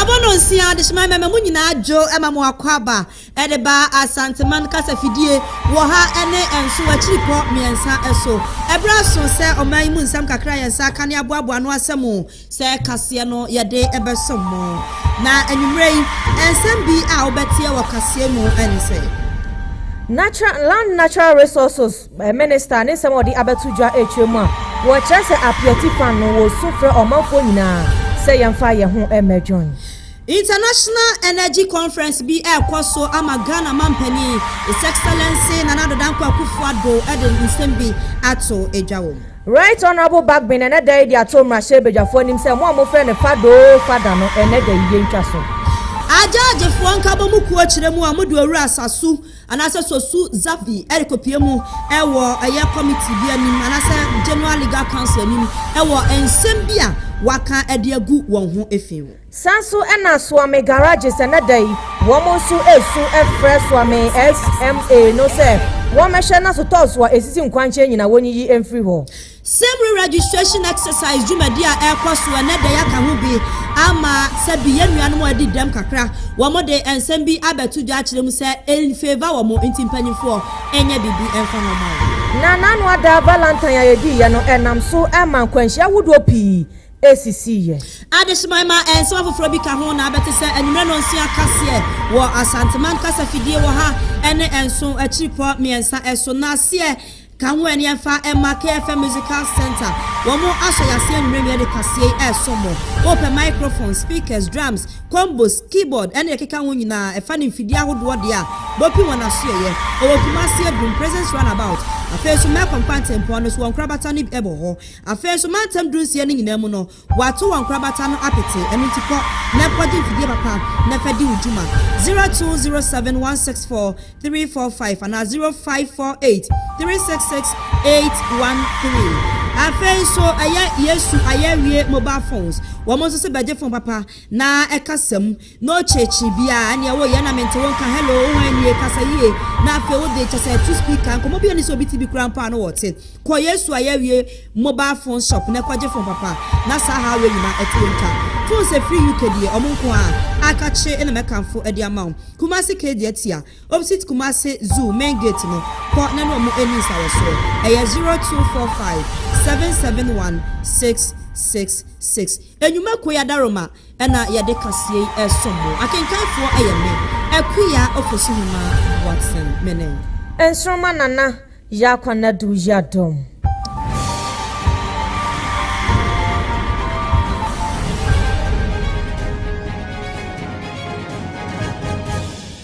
Abono nsia de hyema mɛma mo nyinaa dwo ɛma mo akɔ aba ɛde ba Asanteman kasa fidie wɔ ha ɛne ɛnso akyiri pɔ mmiɛnsa ɛso. Ɛberɛ aso sɛ ɔman yi mu nsɛm kakra yɛn nsa aka ne aboaboa ano asɛm o. Sɛ kaseɛ no yɛde bɛsom mo. Na anwummerɛ yi, nsɛm bi a wobɛteɛ wɔ kaseɛ mu ne sɛ. Natural, Land Natural Resources eh, Minister ne nsɛm a ɔde abɛto dwa ɛtwa mu a wɔkyerɛ sɛ apeati kwan no wɔsu frɛ ɔmanfoɔ nyinaa sɛ yɛmfa yɛn ho mmɛdwoe. International Energy Conference bi ɛrekɔ so ama Ghana Mampanin His Excellency Nana Addo Dankwa Akufo-Addo de nsɛm bi ato dwa wɔ mu. Right Honourable Bagbin ɛnɛ da yi de ato mmarahyɛbadwafoɔ anim sɛ mo a mofrɛ no Fada oo Fada no ɛnɛ da yi yɛntwa so. Agyaagyfoɔ nkabɔmu kuo kyerɛ mu a wɔde Owura Sasu anaasɛ Sosu Zafi rekɔpue mu wɔ ɛyɛ committee bi anim anaasɛ General Legal Council anim wɔ nsɛm bi a wɔaka de agu wɔn ho fi ho. Saa nso na Soame Garages ɛnnɛ da yi wɔn nso resu frɛ Soame SMA no sɛ wɔmmɛhwɛ na sotɔɔs a esisi nkwankyɛn nyinaa wonyiyi mfiri hɔ. Same re-registration exercise dwumadi a ɛrekɔ so ɛnnɛ da yi aka ho bi ama sɛ bi yɛn nuanom a wɔadi dɛm kakra, wɔde nsɛm bi abɛto dwa akyerɛ mu sɛ ɛnfeeva wɔn nti mpanyimfoɔ nyɛ biribi mfa wɔn ho. Na n'ano ada valantine a yɛdiiɛ no ɛnam so ma nkwanhyia ahodoɔ pii esisii yɛ. Adesoman ma nsɛm afoforɔ bi ka ho na abɛ te sɛ anwummerɛ nnɔnsia kaseɛ wɔ Asanteman kasa fidie wɔ ha ne nso akyirepɔ mmiɛnsa so. Na seɛ ka ho ɛneɛ mfa mma KFM Musical Centre, wɔn asɔ yɛ aseɛ anwummerɛ nnua de kaseɛ yi resom mo. Wo pɛ microphone, speakers, drums, combos, keyboard ne deɛ ɛkeka ho nyinaa ɛfa ne mfidie ahodoɔ deɛ a, bɔpi wɔn asoɛeɛ. Wɔwɔ Kumasi Adum, Presence Runabout, afei nso Mɛkɔ Mfantempɔn no so wɔ Nkorabata no bi wɔ hɔ. Afei nso, mantam dunsia no nyinaa mu no, wɔato wɔn nkorabata no apete. Ɛno nti, kɔ na kɔgye mfidie papa na fa di wo dwuma. Zero two zero seven one six four three four five anaa zero five four eight three six six eight one three. Afei nso, ɛyɛ Yesu Ayɛawie Mobile Phones. Wɔn nso se bɛgye fon papa na ɛkasa mu. No ɔkyerɛkyerɛ bi a ɛneɛ wo yɛ na mente wo nka hello wo hwan nie kasa yie na afei wo de kyɛ sɛ to speaker nkɔmɔ bi ɛni sɛ obi ti bi kura mpo a no wɔte kɔ yesu ayɛ awie mobile phone shop na kɔgye phone papa na saa haw wei nyina ɛte wom twa phone sɛ firi UK deɛ ɔmo nko a aka kye ɛna mɛkanfo ɛde ama wo kumasi kedi atia opsit kumasi zoo main gate no kɔ na ne ɔmo ɛni nsawɔsoɔ ɛyɛ 0245 771 666 enyuma koyi adaroma. na yɛde kaseɛ yi resom mo. Akenkanfoɔ yɛ me, Akua Ofosu-Hima Watson. Mene. Nsoroma Nana Yaakwa-Nadu Yiadom.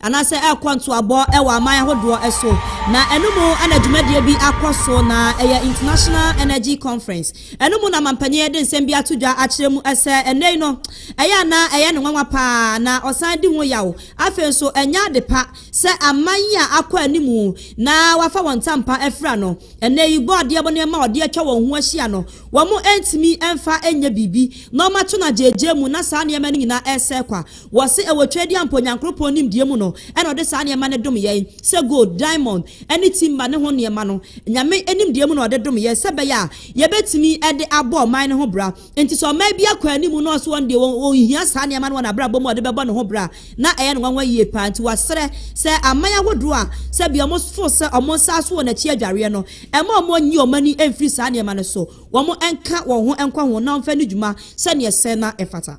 anaasɛ ɛrekɔ ntoabɔ wɔ aman ahodoɔ so, na ɛno mu na dwumadie bi akɔ so, na ɛyɛ International Energy Conference. Ɛno mu na manpanin de nsɛm bi ato dwa akyerɛ mu sɛ ɛnnɛ yi no, ɛyɛ a na ɛyɛ no nwanwa pa ara, na ɔsan di ho yaw. Afei nso, ɛnyɛ ade pa sɛ aman yi a akɔ anim na wɔafa wɔn ntampa afira no, ɛnnɛ yi bɔ adeɛ mu nneɛma a wɔde atwa wɔn ho ahyia no, wɔntumi mfa nyɛ biribi, na wɔato no agyaagyaamu, na saa nneɛma no nyinaa resɛe kwa. Wɔse ɛwɔ Twɛdi a mpo Nyankoropɔn nimdeɛ mu no ɛna ɔde saa nneɛma no dom yɛn, sɛ gold, diamond, ɛne timber ne ho nneɛma no, Nyame nimdeɛ mu na ɔde dom yɛn sɛ ɛbɛyɛ a yɛbɛtumi ɛde abɔ ɔman no ho bra. Nti sɛ ɔman bi akɔ anim na ɔse ɔno deɛ ɔnhia saa nneɛma no wɔ n'abrabɔ mu a ɔde bɛbɔ ne ho bra a, na ɛyɛ no nwanwa yie paa. Nti wɔsrɛ sɛ aman ahodoɔ a sɛbia wɔn fo sɛ wɔn nsa aso wɔn akyi adwareɛ no, ɛmma wɔn nyi wɔn ani mfiri saa nneɛma no so, wɔn nka wɔn ho nkɔ ho na wɔmfa nni dwuma sɛdeɛ ɛsɛ na ɛfata.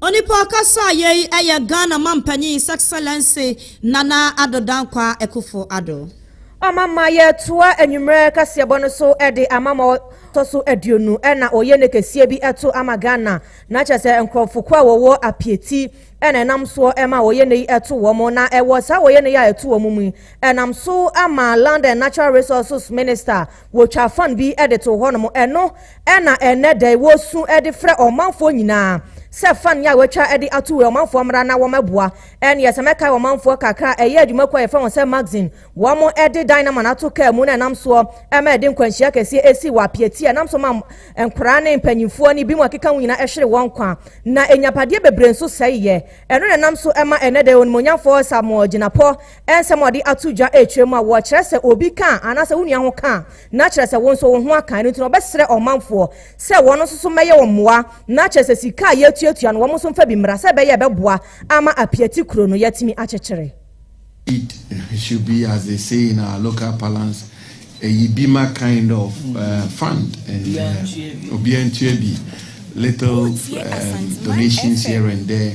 Onipa a ɔkasaa yei yɛ Ghana Mampanyin His Excellency Nana Addo Dankwa Akufo Addo. Ɔma ma yɛtoa anwummerɛ kaseɛbɔ no so de ama ma ɔtɔ so aduonu na ɔyɛ ne kɛseɛ bi to ama Ghana na kyerɛ sɛ nkorɔfo ko a wɔwɔ apiati na ɛnam soɔ ma ɔyɛ ne yi to wɔn na ɛwɔ saa ɔyɛ ne yi a ɛto wɔn mu yi ɛnam so ama Land and Natural Resources Minister Wotwaa fan bi de too hɔnom. Ɛno na ɛnnɛ da yi wosu de frɛ ɔmanfoɔ nyinaa sɛ fan yi a wɔatwa de ato wei ɔmanfoɔ mmra na wɔmmɛboa. Ɛnneɛ sɛ mɛkae ɔmanfoɔ kakra a ɛyɛ adwumakuo a yɛfrɛ wɔn sɛ Magazine. Wɔde Dynaman ato kaa mu na ɛnam soɔ ma ɛde nkwanhyia kɛseɛ sii wɔ Apiatie a ɛnam so ma nkwadaa ne mpanimfoɔ ne binom a ɛkeka ho nyinaa hwere wɔn nkwa na nnyapadeɛ bebree nso sɛeeɛ. Ɛno na ɛnam so ma ɛnnɛ da yi Onimuonyamfoɔ Samuel Gyinapɔ Nsɛm a wɔde ato dwa rekyerɛ mu a wɔkyerɛ sɛ obi ka a anaasɛ wo nua ho ka a, na kyerɛ sɛ wo nso wo ho aka. Ɛno nti na wɔbɛsrɛ ɔmanfoɔ sɛ wɔn nso so mmɛyɛ wɔn mmoa, na kyerɛ sɛ sika a yɛretuatua no wɔn nso mfa bi mmra sɛ ɛbɛyɛ a ɛbɛboa ama Apiati kuro no yɛatumi akyekyere. It should be as they say in our local parlance a Yibima kind of fund and obiara ntua bi, little donations here and there.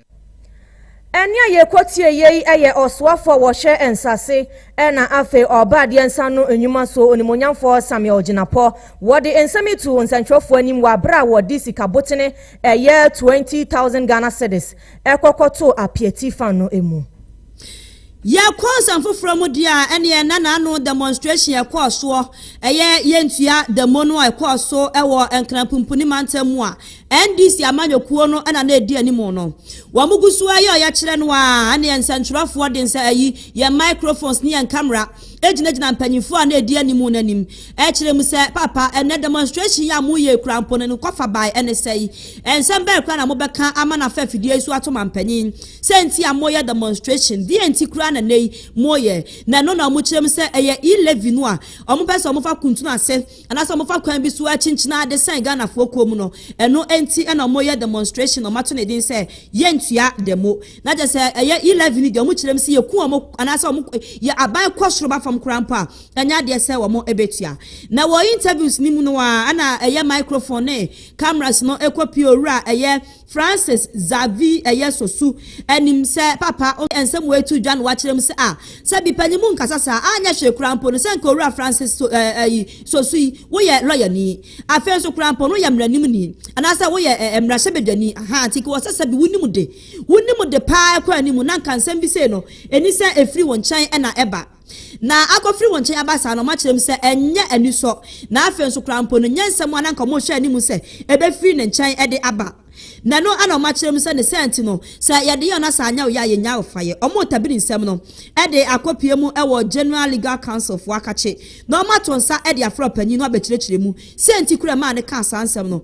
Ɛnne a yɛkɔtie yɛ yi yɛ ɔsoafo a wɔhyɛ nsase na afei ɔba adeɛ nsa no nnwuma so onimonyamfoɔ Samuel Gyinapɔ. Wɔde nsɛm yi too nsɛnkyerɛfoɔ anim wɔ abere a wɔde sika botene ɛyɛ 20,000 Ghana cedis ɛkɔkɔtoo apiati fa no mu. Yɛkɔ nsɛm foforɔ mu deɛ a, ɛneɛ na naano demonstration ɛkɔɔ soɔ, ɛyɛ yɛntua demo no a ɛkɔɔ so wɔ Nkranpumpuni mantam mu a NDC amanyɔkuo no na na ɛdi anim no. Wɔgu so ara yɛ ɔyɛkyerɛ no ara, ɛnna yɛn nsɛntwerɛfoɔ de nsa ayi yɛn microphones ne yɛn kamera gyinagyina mpanimfoɔ a na ɛdi anim no anim kyerɛ mu sɛ, Papa, ɛnnɛ demonstration yi a moyɛ yi koraa mpo no, ne nkɔfabae ne sɛn? Nsɛm bɛn koraa na mobɛka ama no afa afidie yi so ato mampanyin? Sɛn nti a moreyɛ demonstration? Deɛn nti koraa na nnɛ yi moreyɛ? Na ɛno na wɔkyerɛ mu sɛ ɛyɛ e-levy no a wɔpɛ sɛ wɔfa kuntunu ase. anaasɛ wɔfa kwan bi so akyinkyini ade sɛn Ghanafoɔ kuo mu no, ɛno nti na wɔyɛ demonstration na wɔato ne din sɛ yɛntua demo. Na kyerɛ sɛ ɛyɛ E-levy no deɛ wɔkyerɛ mu sɛ yɛku wɔn anaasɛ wɔn yɛ aban kɔ soro ba fam koraa mpo a, ɛnyɛ adeɛ sɛ wɔbɛtua. Na wɔ interviews no mu no ara na ɛyɛ microphone ne cameras no kɔpie owura a ɛyɛ Francis Xavier yɛ Sosu anim sɛ Papa o nsɛm wei to dwa na wakyerɛ mu sɛ, Ah, sɛ bi panyin mu nkasa saa a, anyɛ hwee koraa mpo no, sɛ nka Owura Francis So eh ayi, Sosu yi, woyɛ lɔyani, afei nso koraa mpo no woyɛ mmaranimni, anaasɛ woyɛ eh mmarahyɛbadwani, ahaa, nti nka wɔ sɛ sɛbi wonim de, wonim de paa kɔ anim, na nka nsɛm bi sei no, ɛni sɛ ɛfiri wo nkyɛn na ɛba. na akɔfiri wɔn nkyɛn aba saa no, wɔakyerɛ mu sɛ ɛnyɛ anisɔ, na afei nso koraa mpo no, nyɛ nsɛm a na anka wɔrehwɛ anim sɛ ɛbɛfiri ne nkyɛn de aba. Na ɛno na wɔakyerɛ mu sɛ ne saa nti no, sɛ yɛde yɛn asa anyɛ wo yɛ a, yɛnnya ayɔfaeɛ. Wɔretabiri nsɛm no de akɔpue mu wɔ General Legal Council foɔ akakye, na wɔato nsa de afrɛ ɔpanyin no abɛkyerɛkyerɛ mu sɛn nti koraa ɛmaa no kaa saa nsɛm no.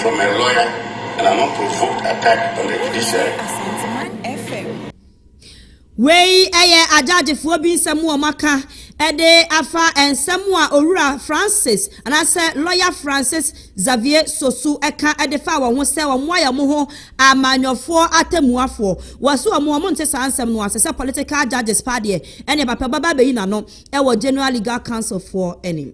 from her lawyer and an unprovoked attack on the judiciary. Wei yɛ agyagyefoɔ bi nsɛm a wɔaka de afa nsɛm a Owura Francis anaasɛ Lɔya Francis Xavier Sosu ka de fa wɔn ho sɛ wɔayɛ wɔn ho amanyɔfoɔ atɛmmuafoɔ. Wɔse wɔn wɔn nte saa nsɛm no ase sɛ political judges paa deɛ ɛne ɛbapɛ bɛba abɛyi n'ano wɔ General Legal Council foɔ anim.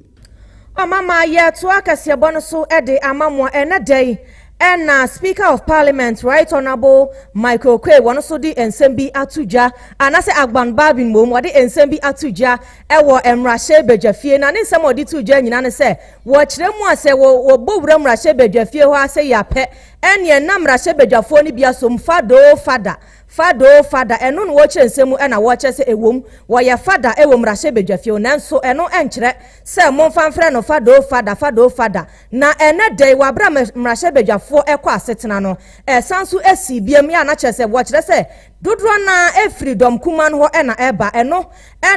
Ɔmama yɛtoa kɛseɛbɔ no so de ama mo a ɛnɛ da yi na Speaker of Parliament Right Honourable Michael Oquaye wɔn nso de nsɛm bi ato dwa anaasɛ Agban Barbin mmom wɔde nsɛm bi ato dwa wɔ mmarahyɛ badwafie na ne nsɛm a wɔde to dwa nyina ne sɛ wɔkyerɛ mu a sɛ wɔbɔ wura mmarahyɛ badwafie hɔ a sɛ yɛapɛ ɛneɛ na mmarahyɛ badwafoɔ no bi asom fadoo fada Fada o fada, ɛno na wɔkyerɛ nsɛm mu na wɔkyerɛ sɛ ɛwom wɔyɛ fada wɔ mmarahyɛbadwafie o nanso ɛno nkyerɛ sɛ momfa mfrɛ no fada o fada, fada o fada. Na ɛnnɛ da yi wɔ aberɛ a mmarahyɛbadwafoɔ ɛkɔ asetena no ɛsan so ɛsii biam yɛ a na kyerɛ sɛ wɔkyerɛ sɛ dodoɔ no ara ɛfiri dɔm kumaa no hɔ na ɛba ɛno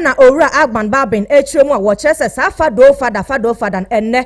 na Owura Agban Baben ɛkyerɛ mu a wɔkyerɛ sɛ saa fada o fada, fada o fada no ɛnnɛ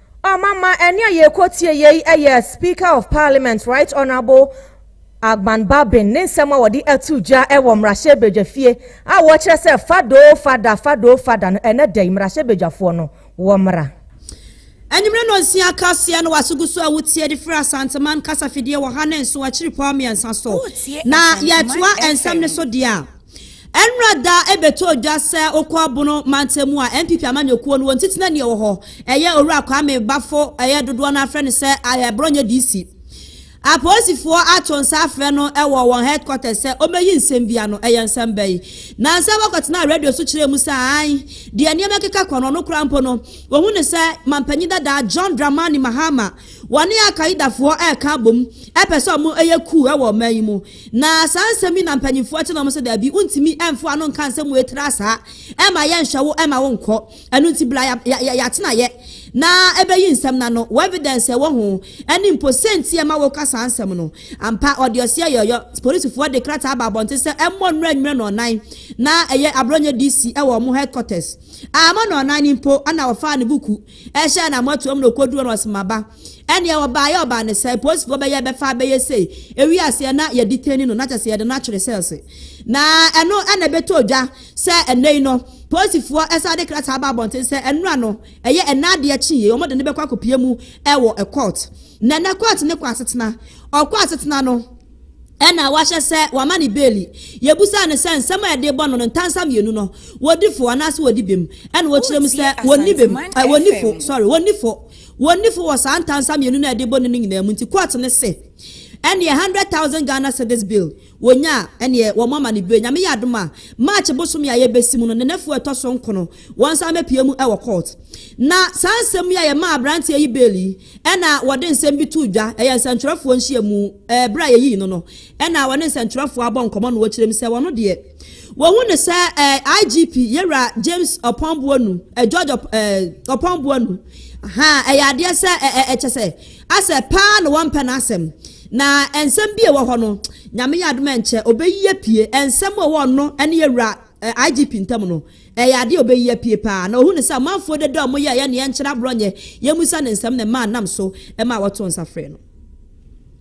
Oh mama ɛne a yɛkɔ tie yei ɛyɛ Speaker of Parliament Right Honourable Agban Babin ne nsɛm a wɔde ato gya ɛwɔ mmarahyɛbadwafie a wɔkyerɛ sɛ fadoo fada fadoo fada no ɛnɛ da yi mmarahyɛbadwafoɔ no wɔmmra Anwummere nnɔnsia akaseɛ no wase gu so a wotie de firi Asanteman kasafidie wɔ ha ne nso akyiri pɔn mmiɛnsa so. Na yɛtoa nsɛm no so deɛ a. Ɛnora da ɛbɛtɔɔ dwa sɛ wokɔ Abono mantamu a NPP amanyɔkuo no wɔn titenani ɛwɔ hɔ ɛyɛ Owura Kwame Bafo ɛyɛ dodoɔ no ara frɛ no sɛ ayɛ Borɔnyɛ DC. Apolisifoɔ ato nsa afrɛ no ɛwɔ wɔn headquarters sɛ ɔmmɛyi nsɛm bi ano. Ɛyɛ nsɛm bɛn? Nansa wɔkɔtenaa radio so kyerɛɛ mu sɛ aane deɛ nneɛma keka kɔ no ɔno koraa mpo no wɔhu no sɛ Mampanyin dada John Dramani Mahama wɔne Al-Qaedafoɔ ɛreka abom ɛpɛ sɛ wɔn ɛyɛ coup ɛwɔ ɔman yi mu. Na saa nsɛm yi na mpanyimfoɔ kyene wɔn sɛ daabi, wontumi mfa ano nka nsɛm wei tra saa, ɛmma yɛnhwɛ wo, ɛmma wonkɔ. Ɛno nti bra ya ya ya yɛatenaeɛ na ɛbɛyi nsɛm no ano, wo evidence a ɛwɔ ho, ɛne mpo sɛnti a ɛma woreka saa nsɛm no. Ampa, ɔde ɔseɛ yɔyɔ. Polisifoɔ de krataa aba abɔnten sɛ ɛmmɔ nnora nnwira Nnɔnnan, na ɛyɛ Abrɔnyɛ DC wɔ wɔn headquarters. Amma Nnɔnnan no mpo na wɔfaa ne buku hyɛɛ no amoatoam na ɔkɔduruu hɔ na wɔsem aba. Ɛneɛ ɔbaeɛ ɔbaa ne sɛn? Poosifoɔ bɛyɛ bɛfa abɛyɛ sei. Ɛwii aseɛ na yɛdi teni no na kyɛsɛ yɛde no atwere sɛɛlse. Na ɛno na ɛbɛtɔ odwa sɛ ɛnɛyi no poosifoɔ ɛsan de krataa aba abɔnten sɛ ɛnora no ɛyɛ ɛnɛ adeɛ kye yei wɔn de no bɛkɔ akɔpie mu ɛwɔ ɛkɔɔt. Na ɛnɛ kɔɔt no kɔ asetena. Ɔkɔ asetena no ɛna wahyɛ sɛ wama ne beeli. Yɛbusaa no sɛ nsɛm a yɛde bɔ no no ntansa mmienu no wɔdi fo anaase wɔdi bem? Ɛna ɔkyerɛ mu sɛ wɔnni bem, wɔnni fo, sorry, wɔnni fo. Wɔnni fɔ wɔ saa ntansa mmienu no a ɛde bɔne no nyinaa mu nti, court no se ɛneɛ hundred thousand Ghana cedis bail wɔnya a, ɛneɛ wɔn ama no bue. Nyame yɛ adom a, March bosome a yɛbɛsi mu no, Nenefoɔ a ɛtɔ so nkono, wɔnsan bɛpue mu wɔ court. Na saa nsɛm yi a yɛmaa aberanteɛ yi bail yi, ɛna wɔde nsɛm bi too dwa, ɛyɛ nsɛntwerɛfoɔ nhyiamu, ɛɛ berɛ a yɛyii no no, ɛna wɔne nsɛntwerɛfoɔ abɔ nkɔmmɔ na wɔkyerɛ mu sɛ wɔn deɛ, Wɔhu no sɛ eh, IGP Yera James Ɔpɔnboanu, eh, George Ɔp, eh, Ɔpɔnboanu. Ha, ɛyɛ adeɛ sɛ, eh, eh, ɛkyɛ sɛ, asɛ paa na wɔmpɛ n'asɛm. Na nsɛm bi ɛwɔ hɔ no, nyame yɛ adom ɛnkyɛ, ɔbɛyi apue. Nsɛm a ɛwɔ ɔno ɛne Yɛwura eh, IGP ntam no, ɛyɛ adeɛ a ɔbɛyi apue paa. Na ɔhu no sɛ amanfoɔ dada a wɔn yɛ ɛyɛ ne yɛnkyerɛ aborɔ nyɛ, yɛmusa ne nsɛm na ɛmaa nam so ɛmaa wɔto nsa frɛ no.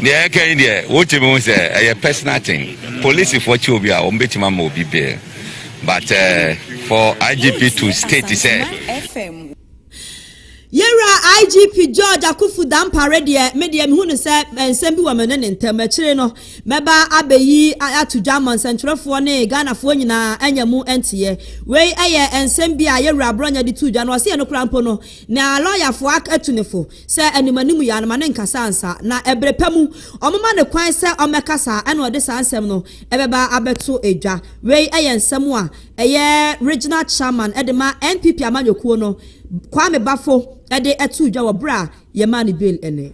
Deɛ ɛka yi deɛ wotumi hu sɛ ɛyɛ personal thing. Polisifoɔ kyɛ obi a wɔn bɛtumi ama obi bail but for IGP to state sɛ. Yɛwura IGP George Akuffo Dampare deɛ me deɛ mehu no sɛ nsɛm bi wɔ me ne ne ntam. Akyire no mɛba abɛyi ato dwa ama nsɛntwerɛfoɔ ne Ghanafoɔ nyinaa anya mu nteɛ. Wei yɛ nsɛm bi a yɛwura Brɔnyɛ de too dwa no. Ɔse ɛno koraa mpo no na lɔyafoɔ atu ne fo. Sɛ animanim yɛ a, no ma no nkasa ansa, na bere pa mu ɔmoma no kwan sɛ ɔmmɛkasa a, ɛnna ɔde saa nsɛm no bɛba abɛto dwa. Wei yɛ nsɛm a ɛyɛ Regional Chairman de ma NPP amanyɔkuo no, Kwame Bafo de too dwa wɔ bere a yɛmaa no bail nnɛ.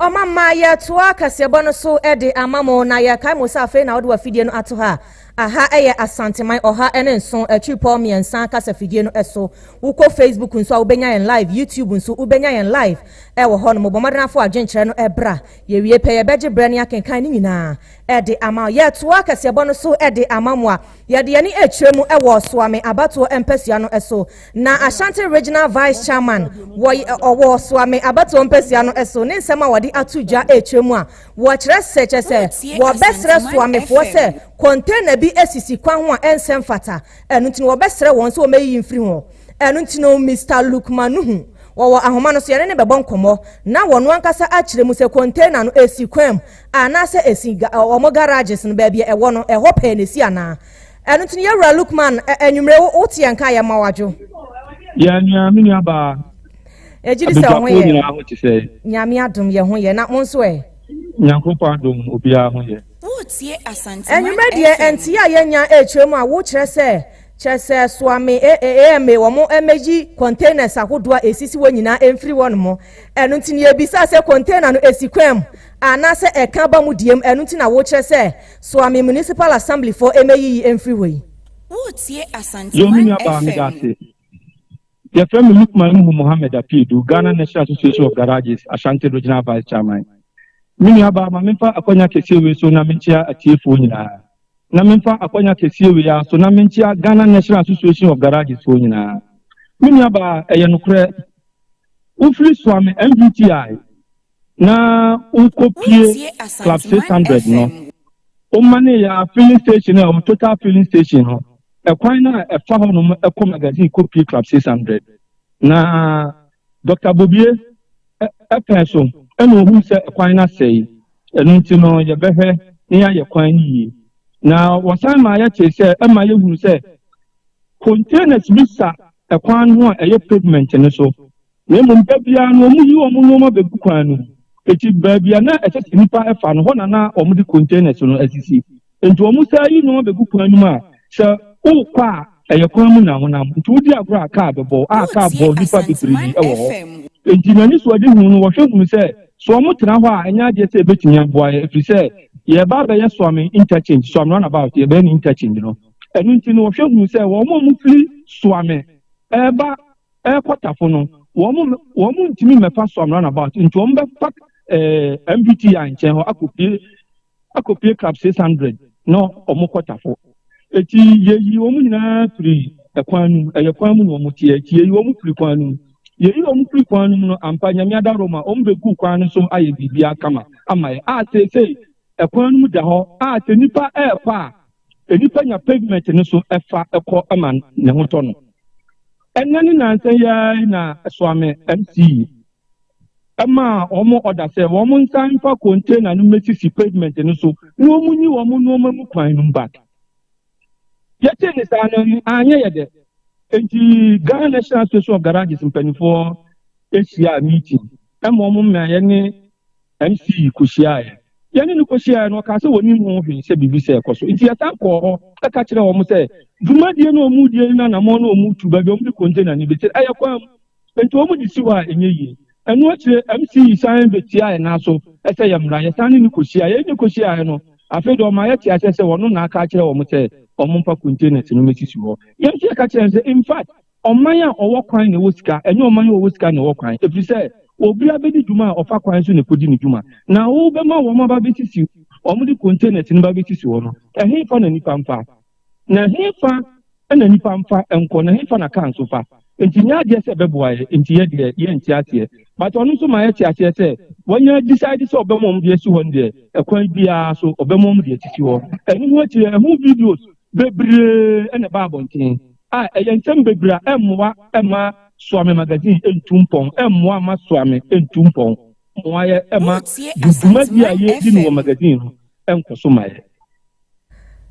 Ɔmamma yɛtoa kaseɛbɔ no so de ama mo, na yɛkae mo sɛ afei na wode w'afidie no ato ha. Aha yɛ Asanteman ɔha ne nson akyirepɔ mmiɛnsa kasafidie no so. Wokɔ Facebook nso a wobɛnya yɛn live, YouTube nso wobɛnya yɛn live wɔ hɔ nom. Bɔ mmɔden afa w'adwenkyerɛ no bra. Yɛwie pɛ, yɛbɛgye berɛ ne akenkan ne nyinaa de ama wo. Yɛtoa kaseɛbɔ no so de ama mo a, yɛde yɛn ani kyerɛ mu wɔ Soa Me abatoɔ mpasua no so. Na Ashanti Regional Vice Chairman wɔ Soa Me abatoɔ mpasua no so ne nsɛm a wɔde ato dwa kyerɛ mu a, Wɔkyerɛ sɛ kyerɛ sɛ wɔbɛsrɛ soamefoɔ sɛ kɔntɛna bi asisi kwan ho a ɛnsɛ mfata, ɛno nti no wɔbɛsrɛ wɔn sɛ wɔmɛyiyi mfiri hɔ. Ɛno nti no Mister Lukman Nuhu, wɔwɔ ahoma no so, yɛne no bɛbɔ nkɔmmɔ na wɔno ankasa akyerɛ mu sɛ kɔntɛna no ɛsi kwan mu anaasɛ ɛsi wɔn garages no baabi a ɛwɔ no, ɛhɔ pɛɛ na ɛsi anaa. Ɛno nti no Yɛwura Lukman, anwumerɛ wo, wo te yɛn nka a yɛma wo adwo. Yɛn nua, me nuabaa. Egye di sɛ Abadwafo ɔho yɛ. nyinaa ho te sɛ. Nyame adom yɛ ho yɛ. Na mo nso ɛ? Nyankopɔn adom obiara ho yɛ. Woretie Asante Mag Anwummerɛ deɛ FM. nteɛ a yɛnya ɛrekyerɛ mu a wo kyerɛ sɛ kyerɛ sɛ soa me AMA wɔn mmɛyi containers ahodoɔ a ɛsisi hɔ nyinaa mfiri hɔ nom ɛno nti na yɛbisaa sɛ container no ɛsi kwan mu anaa sɛ ɛka ba mu deɛ mu ɛno nti na wo kyerɛ sɛ soa me municipal assembly foɔ mmɛyiyi mfiri hɔ yi. Woretie Asante Yo me Mag nua baa FM. meda ase. Yɛfrɛ me Lukman Nuhu Mohammed Apiadu, Ghana National Association of Garages, Ashanti Regional Vice Chairman. Me nuabaa, ma memfa akwanya kɛseɛ wei so na menkyea atiefoɔ nyinaa. Na memfa akwanya kɛseɛ wei ara so na menkyea Ghana National Association of Garages foɔ nyinaa. Me nuabaa, ɛyɛ nokorɛ, wofiri Suame MVTI. na wokopue Club 600 no. Womanee yɛn filling station a ɛwɔ Total Filling Station no, ɛkwan no a ɛfa hɔnom kɔ magazine kopue Club 600. Na Dɔkta Bobie pɛn so na ohuu sɛ kwan no asɛe, ɛno nti no yɛbɛhwɛ na yɛayɛ kwan no yie. Na wɔsan maa yɛtee sɛ ɛma yɛhunu sɛ containers bi sa kwan no ho a ɛyɛ pavement no so, Na mmom da biara no wɔyi wɔn nneɛma begu kwan no mu. Enti baabi a na ɛsɛ sɛ nnipa fa no, hɔ na na wɔde containers no asisi. Enti wɔsan yi nneɛma begu kwan no mu a, sɛ worekɔ a, ɛyɛ kwan mu na wonam. Enti wodi agorɔ a, kaa bɛbɔ wo, a kaa bɔɔ nnipa bebree wɔ hɔ. Enti m'anisoadehu no, wɔhwɛ hunu sɛ, sɛ wɔtra hɔ a, ɛnyɛ adeɛ sɛ ɛbɛtumi aboa yɛn, ɛfiri sɛ yɛreba abɛyɛ Suame Interchange, Suame Runabout, yɛbɛyɛ no interchange no. Ɛno nti no, wɔhwɛ hunu sɛ wɔn a wɔfiri Suame reba, Ɛrekɔ tafo no, wɔn ntumi mmɛfa Soam Runabout, nti wɔn bɛfa ɛɛ MBTI nkyɛn hɔ akɔpie akɔpie Club 600 na wɔn kɔ tafo. Eti yɛyi wɔn nyinaa firi ɛkwan no mu, ɛyɛ kwan mu na wɔn teɛ, eti yɛyi wɔn firi kwan no mu. Yɛyi wɔn firi kwan no mu no, ampa Nyame ada Roma, wɔn bɛgu kwan no so ayɛ biribiara kama ama yɛn, a seesei ɛkwan no mu da hɔ, a sɛ nnipa ɛrekɔ a, Nnipa nya pavement no so fa kɔ ma ne ho tɔ no. Ɛnnɛ ne nnansa yi ara yi na Soame MC maa wɔn ɔda sɛ wɔn nsan mfa container no mmesisi pavement no so na wɔn nyi wɔn nneɛma mu kwan no back. Yɛtee ne saa no anyɛ yɛ dɛ. Enti Ghana National Association of Garages mpanimfoɔ hyiaa meeting ma wɔn mmeaeɛ ne MC kohyiaeɛ. Yɛne no kohyiaeɛ no, ɔkaa sɛ ɔnim ho hwee sɛ biribi sɛɛ kɔ so. Nti yɛsan kɔɔ hɔ bɛka kyerɛɛ wɔn sɛ dwumadie no a wɔredie no ne anammɔn no a wɔretu, baabi a wɔde container no bɛsi no, ɛyɛ kwan mu. Nti wɔde si hɔ a, ɛnyɛ yie. Ɛno akyire, MC san bɛtiaa yɛn nan so sɛ yɛmmra. Yɛsan ne no kohyiaeɛ. Yɛne no kohyiaeɛ no, afei deɛ ɔmaa yɛtee aseɛ sɛ ɔno na aka akyerɛ wɔn sɛ wɔmfa containers no mmɛsisi hɔ. Yɛn nso yɛka kyerɛɛ no sɛ, in fact, Ɔman a ɔwɔ kwan na ɛwɔ sika, ɛnyɛ ɔman a ɔwɔ sika na ɛwɔ kwan, ɛfiri sɛ obiara bɛdi dwuma a ɔfa kwan so na ɛkɔdi ne dwuma. Na wobɛma wɔn aba abɛsisi, wɔde containers no ba abɛsisi hɔ no, ɛhefa na nnipa mfa? Na ɛhefa na nnipa mfa nkɔ? Na ɛhefa na cars fa? Nti nyɛ adeɛ sɛ ɛbɛboa yɛn, nti yɛ deɛ yɛnte aseɛ. But ɔno nso ma yɛte aseɛ sɛ wanya decide sɛ ɔbɛma wɔn de asi hɔ no deɛ, ɛkwan biara so ɔbɛma wɔn de asisi hɔ. Ɛno ho akyire, ɛho videos bebree na ɛba abɔnten a ɛyɛ nsɛm bebree a ɛmmoa mma Soa Me Magazine ntu mpɔn, ɛmmoa mma Soa Me ntu mpɔn, mmoa yɛ mma dwumadi a yɛredi no wɔ magazine no nkɔ so ma yɛn.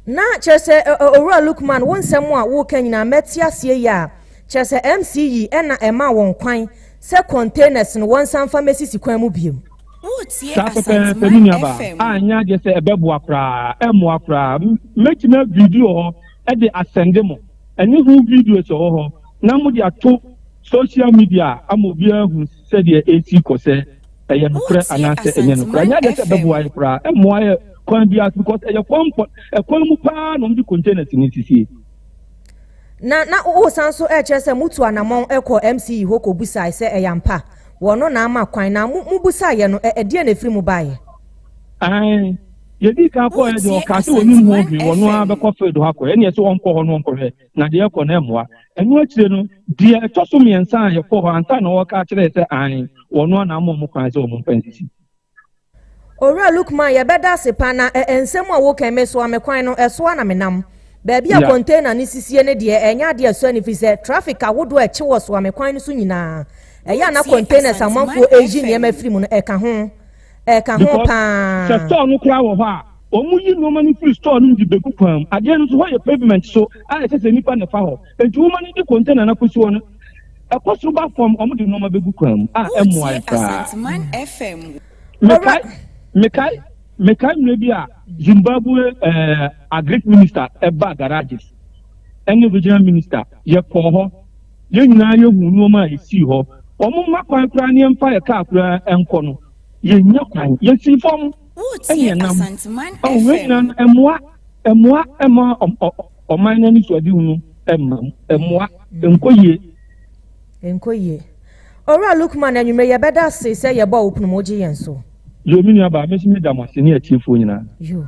Na kyerɛ sɛ Owura Lukman, wo nsɛm a woreka nyinaa mate aseɛ yie a, kyerɛ sɛ MC yi na ɛmaa wɔn kwan sɛ containers no wɔnsan mfa mmɛsisi kwan mu bio. Saa pɛpɛɛpɛ, me nuabaa, a ɛnyɛ adeɛ sɛ ɛbɛboa koraa, ɛmmoa koraa. Mɛtumi aviidi wɔ hɔ de asɛnde mo, ɛne ho videos wɔ hɔ, na mode ato social media ama obiara ahu sɛdeɛ ɛresi kɔ, sɛ ɛyɛ nokorɛ anaasɛ ɛnyɛ nokorɛ. Ɛnyɛ adeɛ sɛ ɛbɛboa yɛn koraa, ɛmmoa yɛn kwan biara so, because ɛyɛ kwan pɔ, ɛkwan mu paa na wɔde containers no sisie. Na na wosan nso rekyerɛ sɛ motu anammɔn kɔɔ MC Ihoko bisae sɛ ɛyɛ ampa. Wɔno na ama kwan, na mo, mo busaa yɛ no, ɛ, ɛdeɛn na ɛfiri mu baeɛ? Aane, deɛ ɛdii kan kɔɔɛ deɛ, ɔkaa sɛ ɔnim ho hwee, ɔno ara bɛkɔ field hɔ akɔyɛ, ɛnneɛ sɛ ɔnkɔ hɔ no ɔnkɔhwɛ, na deɛ ɛkɔ no ɛmmoa. Ɛno akyire no, deɛ ɛtɔ so mmiɛnsa a yɛkɔɔ hɔ ansa na ɔreka akyerɛɛ sɛ aane, wɔno ara na ama wɔn kwan sɛ wɔn mfa nsisi. Owura Lukman, yɛbɛda ase pa na ɛ nsɛm a woka yi, mesoa me kwan no, ɛso ara na menam. Baabi a container no sisie no deɛ, ɛnyɛ adeɛ a ɛsɔ ani firi sɛ traffic ahodoɔ a ɛkye wɔ soa me kwan no so nyinaa, ɛyɛ a na containers a amanfoɔ reyi nneɛma firi mu no, ɛka ho. Ɛka ho pa Because sɛ ara. store no koraa wɔ hɔ a, wɔyi nneɛma no firi store no mu de bɛgu kwan mu. Adeɛ no nso, hɔ yɛ pavement so a ɛsɛ sɛ nnipa na ɛfa hɔ. Enti woma no di container no akosi hɔ no, ɛkɔ soro ba fam, wɔde nneɛma bɛgu kwan mu a ɛmmoae koraa. Mekae, mekae, mekae mmerɛ bi a Zimbabwe eh, agric minister ɛbaa garages ɛne regional minister yɛkɔɔ hɔ yɛn nyinaa yɛhu nneɛma a ɛsii hɔ wɔn mma kwan koraa ne yɛmfa yɛ kaa koraa ɛnkɔ no yɛnya kwan yɛsii fam ɛneɛ nam ɔhwɛ nyina no ɛmoa ɛmoa ɛma ɔman no anisoade hunu ɛma mu ɛmoa ɛnkɔ yie ɛnkɔ yie owura lukman anwummerɛ yɛbɛda ase sɛ yɛbɔ wo punu mu gye yɛn so yoo me nua baa mesi me da mo ase ne atiefoɔ nyinaa yoo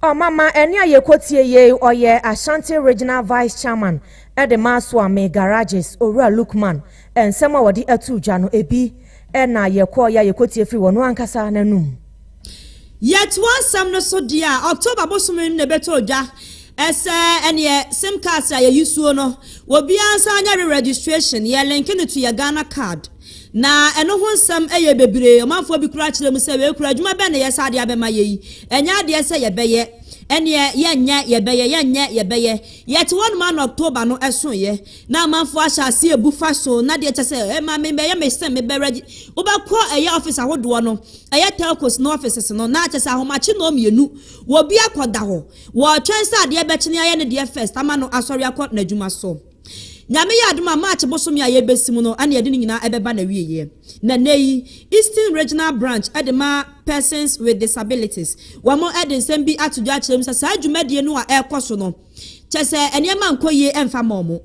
ɔmama ɛne a yɛkɔtie yei ɔyɛ ashanti regional vice chairman ɛde ma asoame garages owura lukman Nsɛm a wɔde ato gya no, ebi na yɛkɔe a yekotie firi wɔn ankasa no anom. Yɛtoa nsɛm no so deɛ a, October bosome mu na ɛbɛtɔ dwa. Ɛsɛ ɛneɛ sim cards a yɛyi suo no, obiara nsa nyɛ re registration. Yɛ linke no to yɛ Ghana card. Na ɛno ho nsɛm yɛ bebree. Ɔmanfoɔ bi koraa kyerɛ mu sɛ, wei koraa adwuma bɛn na ɛyɛ sɛ adeɛ abɛma yɛ yi? Ɛnyɛ adeɛ sɛ yɛbɛyɛ. Ɛneɛ yɛnyɛ, yɛbɛyɛ, yɛnyɛ, yɛbɛyɛ. Yɛte hɔnom ara na October no soeɛ. Na amanfoɔ ahyɛ aseɛ abu fa so, na deɛ kyɛ sɛ ɛma me bɛyɛ me sɛ mebɛrɛ gye, wobɛkɔ ɛyɛ office ahodoɔ no, ɛyɛ telcos no offices no, na kyɛ sɛ ahomakye nnɔɔ mmienu, obi akɔda hɔ, wɔretwɛn sɛ adeɛ bɛkyene ayɛ ne deɛ first ama no asɔre akɔ n'adwuma so. Nyame yɛ adom a March bosome a yɛrebɛsi mu no na yɛde ne nyinaa ɛbɛba n'awieɛ. Na nnɛ yi, Eastern Regional Branch de ma Persons with Disabilities, wɔn de nsɛm bi ato dwa akyerɛ mu sɛ saa dwumadie no a ɛrekɔ so no, Kyerɛ sɛ nneɛma nkɔ yie mfa mma wɔn.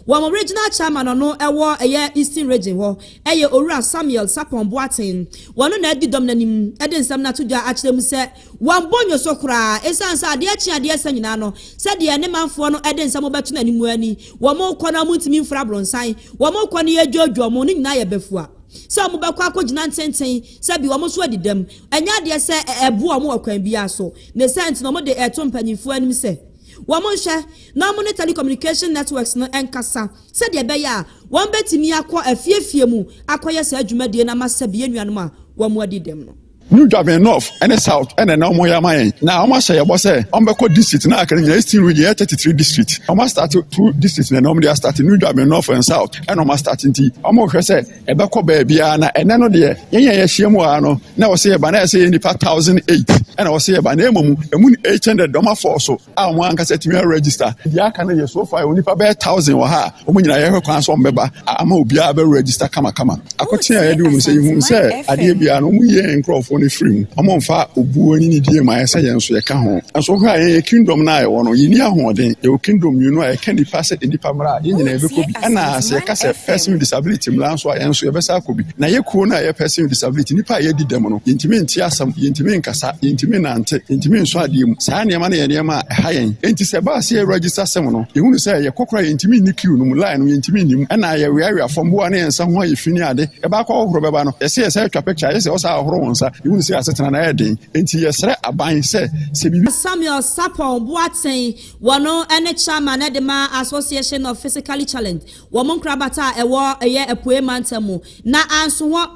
Wɔn regional chairman no wɔ ɛyɛ Eastern Region hɔ yɛ Owura Samuel Sapon Boateng. Ɔno na adi dɔm no anim de nsɛm no ato dwa akyerɛ mu sɛ wɔmmɔ nnwo so koraa ɛsiane sɛ adeɛ kye adeɛ sa nyinaa no sɛdeɛ ne manfoɔ no de nsɛm bɛto no anim ara ni. Wɔrekɔ no wɔntumi mforo abrɔnsan, wɔrekɔ no yɛredwoodwo wɔn, ne nyinaa yɛ bafua sɛ wɔbɛkɔ akɔgyina ntenten sɛ bi wɔn nso adi dɛm. Ɛnyɛ adeɛ sɛ ɛboa wɔn wɔ kwan biara so, ne saa nti na wɔde reto mpanyinfoɔ anim sɛ wɔnhwɛ na wɔne telecommunication networks no nkasa sɛdeɛ ɛbɛyɛ a wɔbɛtumi akɔ afie afie mu akɔyɛ saa dwumadie no ama Serbia nuanom a wɔadi dɛm no. New Dwaben North ne South na na wɔyɛ ama yɛn. Na wɔahyɛ yɛn bɔ sɛ wɔbɛkɔ district na aka no nyinaa. Eastern region yɛ 33 district. Wɔastate two district na na wɔde astate New Dwaben North and South na wɔastate nti wɔhwɛ sɛ Ɛbɛkɔ baabiara na ɛnɛ no deɛ yɛn yɛn yɛhyia mu ara no na wɔsɛ yɛba na ɛsɛ yɛ nipa thousand eight ɛna wɔsɛ yɛba na mmom ɛmu no eight hundred dɔm afɔɔ so a wɔn ankasa tumi register deɛ aka no yɛ so far yɛwɔ nipa bɛyɛ thousand wɔ ha a wɔn nyinaa yɛhwɛ kwan so wɔn bɛba ama obiara bɛ register kamakama akɔte a yɛde wɔn sɛ yɛhu sɛ adeɛ biara no wɔn yɛ yɛn nkurɔfoɔ no firi mu wɔn mfa obuo ne ne die ma yɛ sɛ yɛn nso yɛka ho nso hwɛ a yɛn yɛ kingdom no a yɛwɔ no yɛni ahoɔden yɛwɔ kingdom mmienu a yɛka nipa sɛ nipa mmara a yɛn nyinaa yɛbɛkɔ bi Ɛna sɛ yɛka sɛ person with disability mmra nso a, yɛn nso yɛbɛsan akɔ bi. Na yɛ kuo no a ɛyɛ person with disability, nnipa a yɛadi dɛm no, yɛntumi nte asɛm, yɛntumi nkasa, yɛntumi nnante, yɛntumi nsɔ adeɛ mu. Saa nneɛma no yɛ nneɛma a ɛha yɛn. Enti sɛ ɛba sɛ yɛ register sɛm no, yɛhunu sɛ yɛkɔ koraa a, yɛntumi nni queue no mu, line no, yɛntumi nni mu. Ɛna yɛweawea fam, boa ne yɛn nsa ho ayɛ fi ne ade. Ɛbaa kɔ ahohoro bɛba no, yɛse yɛsan atwa picture a, ayɛ sɛ wo saa hohoro wo nsa. Yɛhunu sɛ yɛn asetena no ayɛ den. Enti yɛsrɛ aban sɛ, sɛ biribi. Samuel Sarpong Boateng Wɔn ne Chairman de ma Association of Physically Challenged wɔn nkorabata a ɛwɔ yɛ Apuei Mantam mu, na anso hɔ.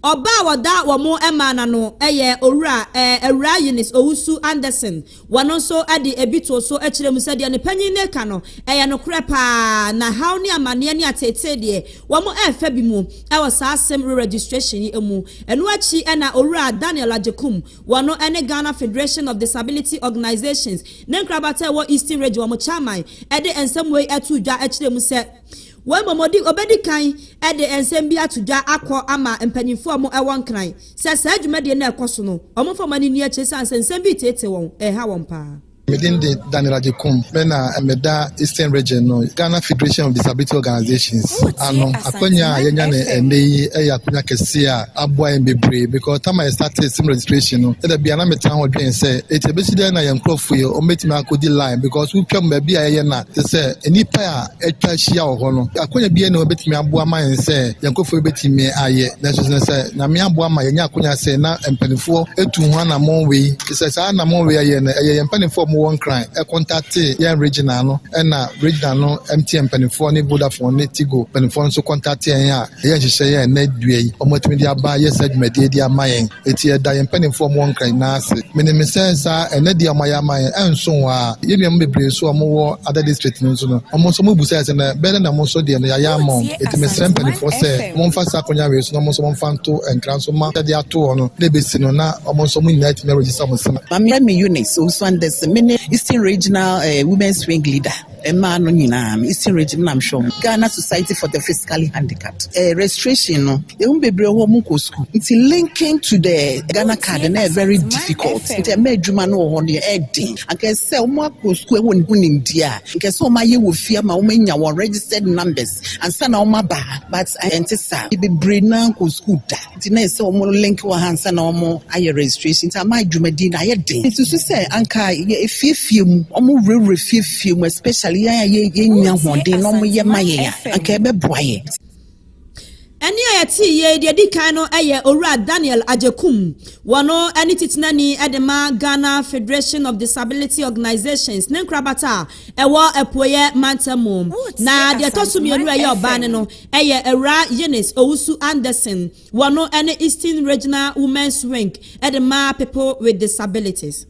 Ɔba a wɔda wɔn maa no ano yɛ Owura, eh, Awuraa Eunice Owusu Anderson. Wɔn nso de ebi too so kyerɛɛ mu sɛ deɛ ne panyin no reka no, ɛyɛ nokorɛ pa ara, na haw ne amanneɛ ne ateetee deɛ, wɔn refa bi mu wɔ saa asem re-registration yi mu. Ɛno akyi na Owura Daniel Agyekum Wɔno ne Ghana Federation of Disability Organisations ne nkrabata a ɛwɔ Eastern Region, wɔn chairman, de nsɛm wei too dwa kyerɛɛ mu sɛ wei mmom ɔdi ɔbɛdi kan de nsɛm bi ato dwa akɔ ama mpanyinfoɔ a wɔn wɔ nkran sɛ saa dwumadie no a ɛkɔ so no wɔn mfa wɔn ani nni akyire sane sɛ nsɛm bi reteetee wɔn, ɛreha wɔn paa. Me din de Daniel Agyekum. Me na meda Eastern Region no Ghana Federation of Disability Organisations ano. Akwanya a yɛanya no ɛnnɛ yi yɛ akwanya kɛseɛ a aboa yɛn bebree because tam a yɛstate sim registration no, ɛda bia na metaa ho dwen sɛ ɛti ɛbɛsi dɛn na yɛn nkurɔfoɔ yi wɔbɛtumi akɔdi line because wotwam baabi a yɛyɛ no a te sɛ nnipa a atwa ahyia wɔ hɔ no, akonya biara na wɔbɛtumi aboa ma yɛn sɛ yɛn nkurɔfoɔ bɛtumi ayɛ. Nanso sɛ sɛ Nyame aboa ma yɛnya akonya sɛ na mpanimfoɔ atu ho anammɔn wei, te sɛ saa anammɔn wei ayɛ no, ɛyɛ yɛn mpanimfoɔ a wɔwɔ Nkran kɔntatee yɛn regional no, ɛna regional no MTN mpanimfoɔ ne Vodafone ne Tigo mpanimfoɔ nso kɔntatee yɛn a, Ɛyɛ nhyehyɛe a nnɛ dua yi wɔatumi de aba ayɛ saa dwumadi yi de ama yɛn. Enti yɛda yɛn mpanyimfo a wɔwɔ Nkran nyinaa ase. Minim sɛ saa ɛnnɛ de a wɔayɛ ama yɛn ɛnso hɔ ara. Yɛn nuanom bebree nso a wɔwɔ Ada District no nso no, wɔn nso wobisae sɛ, 'Na bɛyɛ dɛn na mo nso deɛ no yɛayɛ ama mo? Enti mesrɛ mpanyimfoɔ sɛ wɔmfa saa akwannya wei so na wɔn nso wɔmfa nto Nkran so mma yɛde ato hɔ no na ebesi no na wɔn nso wɔn nyinaa atumi aregister wɔn sɛ. Maame Eunice Owusu-Anderson, Mene Eastern Regional Women's Wing Leader. Mmaa no nyinaa no Eastern region na mehwɛ wɔn. Ghana Society for the Physically Handicapped eh, registration no ehu bebree wɔ wɔn nkɔ sukuu nti linking to the Ghana card na ɛyɛ very difficult nti ɛmɛ adwuma no wɔ hɔ no yɛ ɛden anka sɛ wɔn akɔ sukuu ɛwɔ ne ho nimdeɛ a nka sɛ wɔn ayɛ wɔ fie ama wɔn anya wɔn registered numbers ansa na wɔn aba but ɛnte saa bebree naa nkɔ sukuu da. Nti na ɛsɛ wɔn link wɔ ha ansa na wɔn ayɛ registration. Nti ama dwumadi na ayɛ den. Nsusu sɛ anka yɛ efiefie mu, wɔn wurawura fiefie mu especially yɛn a yɛ yɛnya ahoɔden na wɔn yɛ ma yɛn a, anka ɛbɛboa yɛn. Ɛnne a yɛtee yei deɛ ɛdi kan no yɛ Owura Daniel Agyekum, wɔn ne titenani de ma Ghana Federation of Disability Organisations ne nkorabata a ɛwɔ Apueeɛ Mantam mu. Na deɛ ɛtɔ so mmienu a ɛyɛ ɔbaa ne no, Ɛyɛ Awuraa Eunice Owusu-Anderson wɔ no ne Eastern Regional Women's Wing de ma People with Disabilities.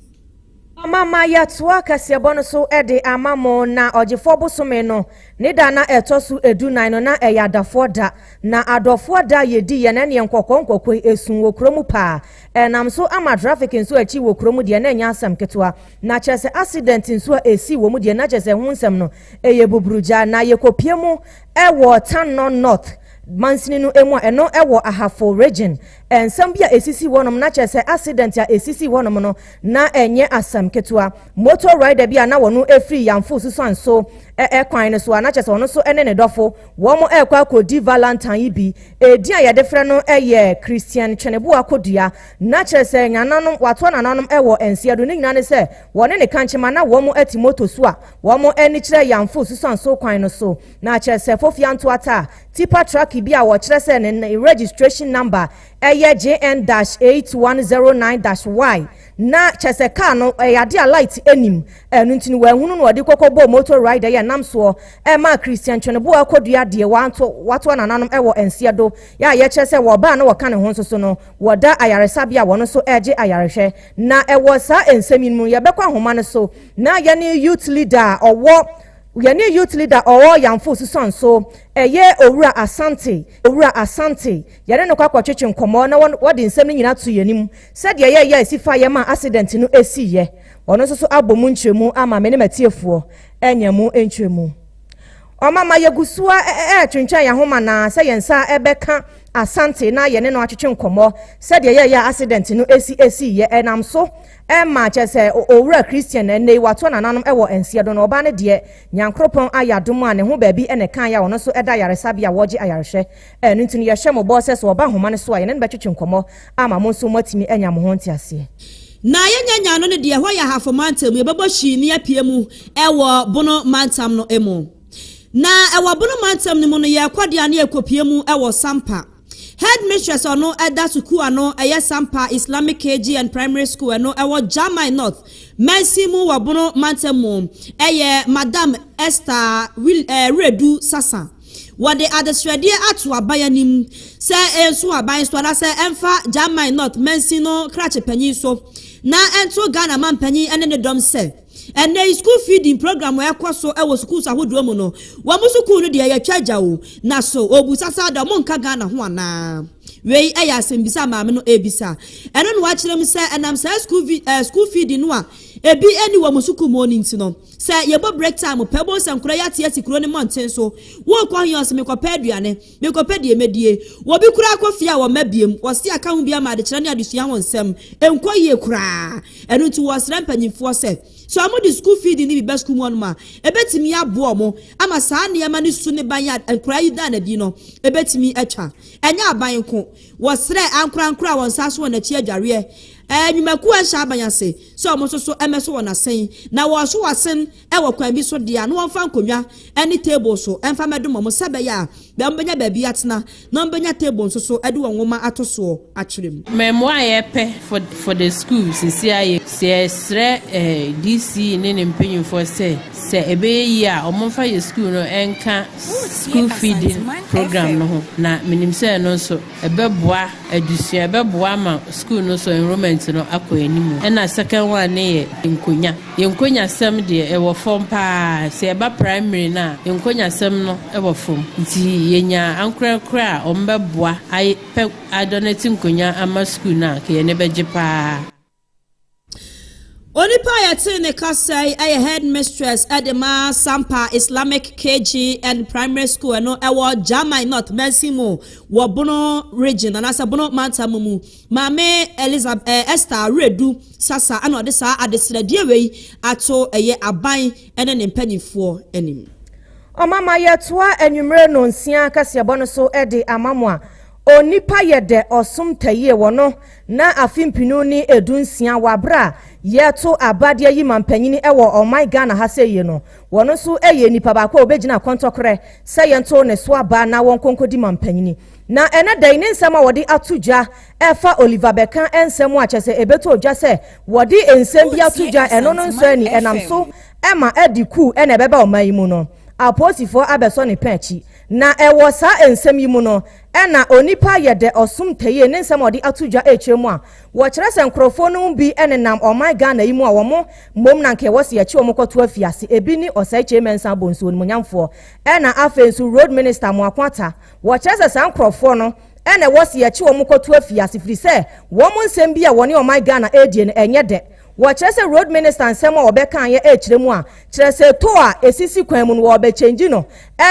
Ɔma ma yɛtoa kaseɛbɔ no so de ama mo. Na Ɔgyefoɔ bosome no ne da na ɛtɔ so dunan no, na ɛyɛ adafoɔ da. Na adɔfoɔ da a yɛdi yɛ no neɛ nkɔkɔɔ nkɔkɔɔ yi, ɛsum wɔ kuro mu paa. Ɛnam so ama traffic nso akyi wɔ kuro mu deɛ, na ɛnyɛ asɛm ketewa. Na kyerɛ sɛ accident nso a ɛsii wɔ mu deɛ, na kyerɛ sɛ ɛho nsɛm no, ɛyɛ buburugya. Na yɛkɔpie mu Ɛwɔ Tanno North mansini no mu a ɛno wɔ Ahafo Region. Nsɛm bi a esisii hɔnom na kyerɛ sɛ accident a esisii hɔnom no na ɛnyɛ asɛm ketewa. Motor rider bi a na ɔno firi Yamfo Susuan so rɛ kwan no so a na kyerɛ sɛ ɔno nso ne ne dɔfo wɔn rekɔ akɔdi Valentine yi bi. Edin a yɛde frɛ no yɛ Christian Tweneboa Kodua. Na kyerɛ sɛ nananom, wɔatoa nananom wɔ nseɛdo. Ne nyinaa ne sɛ wɔne ne kankyema na wɔn te motor su a. Wɔn ani kyerɛ Yanfo Susan so kwan no so, na kyerɛ sɛ Fofia Ntoata a tipper truck bi a wɔkyerɛ sɛ ne ne registration number yɛ JN-8109-Y, na kyerɛ sɛ kaa no yɛ ade a light nnim, ɛno nti no wɔanhunu na wɔde kɔkɔbɔɔ motor rider yi a ɛnam soɔ maa Christian Twoneboa kɔduaa deɛ watoa nananom wɔ Nseɛdo yɛ a yɛkyerɛ sɛ wɔ ɔbaa na wɔka ne ho nso so no wɔda ayaresabea a wɔn nso regye ayarehwɛ. Na ɛwɔ saa nsɛm yi no mu no yɛbɛkɔ ahoma no so. Na yɛne youth leader a ɔwɔ yɛne youth leader ɔwɔ Yamfo Susan so ɛyɛ Owura Asante Owura Asante yɛne no kɔ akɔtwetwe nkɔmmɔ na wɔde nsɛm no nyinaa to yɛn anim sɛdeɛ ɛyɛɛ yɛ a ɛsi faeɛ ma accident no siiɛ. Ɔno nso so abɔ mu nkyerɛmu ama me ne m'atiefoɔ anya mu nkyerɛmu. Ɔmama yɛgu so a ɛretwentwɛn yɛn ahoma na sɛ yɛn nsa bɛka Asante na yɛne no atwetwe nkɔmmɔ sɛdeɛ ɛyɛɛ yɛ a accident no si siiɛ ɛnam so Ɛma kyerɛ sɛ owura Christian na ɛnnɛ yi watoa nananom wɔ nseɛ do no, ɔbaa no deɛ Nyankoropɔn ayɛ adom a ne ho baabi na ɛkaeɛ a ɔno nso ɛda ayaresabea a wɔregye ayarehwɛ. Ɛno nti no yɛhyɛ mo bɔ sɛ so ɔba nhoma no so a yɛne no bɛtwetwe nkɔmmɔ ama mo nso moatumi anya mo ho nteaseɛ. Na yɛnyɛ Nya no no deɛ ɛhɔ yɛ Ahafo Mantam mu, yɛbɛbɔ hyii ne apue mu wɔ Bono Mantam no mu. Na wɔ Bono Mantam no mu no yɛrekɔ deɛ a na yɛkɔpue mu wɔ Sampa. Headmistress a ɔno da sukuu a no yɛ Sampa Islamic KG and Primary School ɛno ɛwɔ Jamai North mansin mu wɔ Bono mantam mu yɛ Madam Esther Wiredu Sasa. Wɔde adesrɛdeɛ ato aban anim sɛ ɛnso aban so anaasɛ ɛmfa Jamai North mansin no krakye panyin so na ɛnto Ghana manpanyin ne ne dɔm sɛ, Ɛnnɛ yi, sukuu feeding program a ɛkɔ so wɔ sukuus ahodoɔ mu no, wɔn sukuu no deɛ yɛtwa agya o, na so obu sasa da wɔn nka Ghana ho anaa? Wei yɛ asɛmbisa a maame no rebisa. Ɛno na wakyerɛ mu sɛ ɛnam saa sukuu vi eh, sukuu feeding no a ebi ani wɔ wɔn sukuu mu no nti no, sɛ yɛbɔ break time pɛ, wobɛhu sɛ nkora yi ate asi kuro no mmɔnten so, worekɔ he ɔse mekɔpɛ aduane, Mekɔpɛ deɛ mɛdie. Wɔbi koraa kɔ fie a wɔmma biom. Wɔse aka ho bi ama adekyerɛ ne adesua ho nsɛm nkɔ yie koraa. Ɛno nti wɔresrɛ mpanyinfoɔ sɛ, sɛ wɔn de sukuu fiidi no bi ba sukuu mu hɔnom a, ɛbɛtumi aboa wɔn ama saa nneɛma no su ne ban a nkwadaa yi daa no adi no ɛbɛtumi atwa. Ɛnyɛ aban nko. Wɔsrɛ ankorankoro a wɔn nsa aso wɔn akyi adwareɛ nnwumakuo a ɛhyɛ aban ase sɛ wɔn nso so mmɛso wɔn asen. Na wɔreso wɔn asen. Wɔ kwan bi so deɛ a, na wɔmfa nkonnwa ne table so mfa mmɛdom wɔn sɛ ɛbɛyɛ a wɔbɛnya baabi atena na wɔbɛnya table nso so de wɔn nwoma ato soɔ atwerɛ mu. Mmamu a yɛpɛ for for the school sisi a yɛ sɛ yɛsrɛ eh, DC ne ne mpanyinfoɔ sɛ sɛ ɛbɛyɛ yie a wɔn mfa yɛ school no nka school feeding program no ho na menim sɛ ɛno nso ɛbɛboa adusua ɛbɛboa ama school no so enrollment no akɔ anim ɛna second one ne yɛ nkonya. Yɛn nkonyasɛm deɛ ɛwɔ fam paa, sɛ ɛba primary no a nkonyasɛm no wɔ fam nti yɛnya ankorɛkorɛ a wɔn bɛboa ayɛ pɛ adɔnɛte nkonya ama sukuu no a nka yɛn ani bɛgye paa. Onipa a yɛtee ne kasa yi yɛ headmistress de ma Sampa Islamic KG and Primary School ɛno ɛwɔ Gyamai North Mansin mu wɔ Bono Region anaasɛ Bono Mantam mu. Maame Elizab eh, Esther Aweredu Sasa na ɔde saa adesrɛdeɛ wei ato ɛyɛ aban ne ne mpanimfoɔ anim. Ɔmama yɛtoa anwummere nonsia kaseɛbɔ no so de ama mo a onipa yɛ dɛ ɔsom tayie wɔ no na afe mpenu ne edu nsia wɔ abere a yɛto abadeɛ yi ma mpanyini wɔ ɔman Ghana ha sɛ yie no. Wɔno nso yɛ nipa baako a ɔbɛgyina kɔntɔkorɛ sɛ yɛnto ne so aba na wɔnkɔ nkɔdi ma mpanyini. Na ɛnɛ da yi ne nsɛm a wɔde ato dwa ɛfa Oliver bɛka nsɛm a kyerɛ sɛ ɛbɛtɔ dwa sɛ wɔde nsɛm bi ato dwa ɛno no nsɔ ani ɛnam so ma adi kuw na ɛbɛba ɔman yi mu no apolisifoɔ abɛsɔ ne pɛn akyi na ɛwɔ saa nsɛm yi mu no na onipa yɛ dɛ ɔsom tayie ne nsɛm a wɔde ato dwa ɛkyerɛ mu a wɔkyerɛ sɛ nkorɔfoɔ no mu bi nenam ɔman Ghana yi mu a wɔn mmom na nka ɛwɔ sɛ yɛkye wɔn kɔto afiase ebi ne Osei Kyei Mensah Bonsu onimuonyamfoɔ ɛna afei nso Road Minister Amoako Atta Wɔkyerɛ sɛ saa nkorɔfoɔ no na ɛwɔ se yɛkye wɔn kɔto afiase firi sɛ wɔn nsɛm bi a wɔne ɔman Ghana ɛredie no ɛnyɛ dɛ. Wɔkyerɛ sɛ road minister nsɛm a ɔbɛkaeɛ ɛrekyerɛ mu a kyerɛ sɛ tow a ɛsisi kwan mu no wɔrebɛkyɛngyi no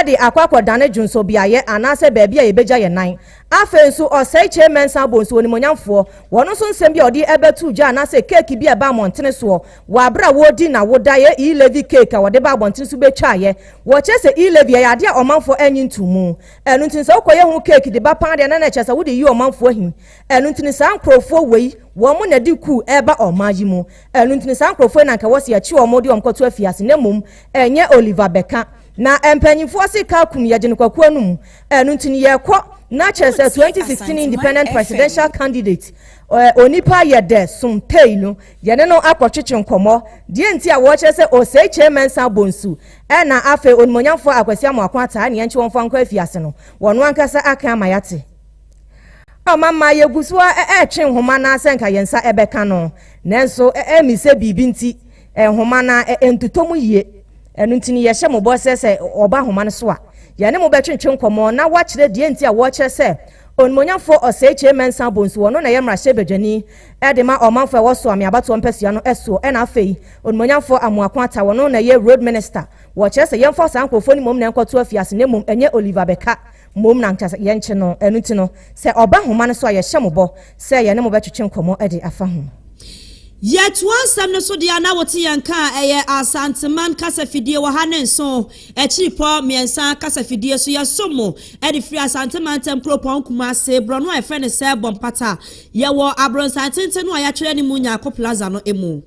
de akɔ akɔdane dwonsɔbeaeɛ anaasɛ baabi a yɛbɛgya yɛn nan. Afei nso Osei Kyei Mensah Bonsu onimuonyamfoɔ, wɔn nso nsɛm bi a ɔde ɛbɛtoo dwa anaasɛ keeki bi a ɛbaa mmɔntene soɔ, Wɔ aberɛ a wɔredi n'awoda yɛ E-Levy cake a wɔde ba abɔnten nso bɛtwaeɛ. Wɔkyerɛ sɛ E-Levy ɛyɛ adeɛ a ɔmanfoɔ nnye ntom mu. Ɛno nti no sɛ wokɔyɛ ho cake de ba paa deɛ na na ɛkyerɛ sɛ wode reyi ɔmanfoɔ ahi. Ɛno nti no saa nkorɔfoɔ wei wɔn na ɛde kuu ɛreba ɔman yi mu. Ɛno nti no saa nkorɔfoɔ yi na anka ɛwɔ sɛ yɛkye wɔn de wɔn kɔto afiase na mmom ɛnyɛ Oliver bɛka. Na mpanyimfoɔ se car kum yɛgye no kwaku anom. Ɛno nti no yɛkɔ na kyerɛ sɛ 2016 independent presidential candidate onipa yɛ dɛ som tei no Yɛne no akɔtwetwe nkɔmmɔ. Deɛ nti a wɔkyerɛ sɛ ɔsɛe Kyei Mensah Bonsu ɛna afei Onimuonyamfoɔ Akwasi Amoako ataa nea nti wɔmfa nkɔ afiase no, wɔno ankasa aka ama yɛate. Ɔɔ mama yɛgu so ara ɛretwe nhoma no ara sɛ nka yɛn nsa bɛka no, nanso ɛmisɛ biribi nti nhoma no ara ɛntotɔ mu yie. Ɛno nti no yɛhyɛ mo bɔ sɛ sɛ wɔba nhoma no so a, yɛne mo bɛtwetwe nkɔmmɔ na wɔakyerɛ deɛ nti a wɔkyerɛ sɛ Onimuonyamfoɔ ɔsɛe Kyei Mensah Bonsu wɔno na ɛyɛ mmarahyɛbadwani de ma ɔmanfoɔ a wɔsoa me abatoɔ mpasua no soɔ, ɛna afei Onimuonyamfoɔ Amoako Atta, ɔno na ɛyɛ Road Minister, wɔkyerɛ sɛ yɛmfa saa nkorɔfoɔ no mmom na ɛnkɔto afiase na mmom ɛnyɛ Oliver Bɛka mmom na anka yɛnkye no, ɛno nti no sɛ ɔba nhoma no so a yɛhyɛ mo bɔ sɛ yɛne mo bɛtwetwe nkɔmmɔ de afa ho. Yɛtoa nsɛm no so deɛ a na wote yɛn nka a ɛyɛ Asanteman kasafidie wɔ ha ne nso Akyirepɔ mmiɛnsa kasafidie so. Yɛsom mo de firi Asante Mantam kuropɔn Kumase, borɔno a yɛfrɛ no sɛ Bɔmpata. Yɛwɔ abrɔsan tenten no a yɛatwerɛ ne mu Nyarko Plaza no mu.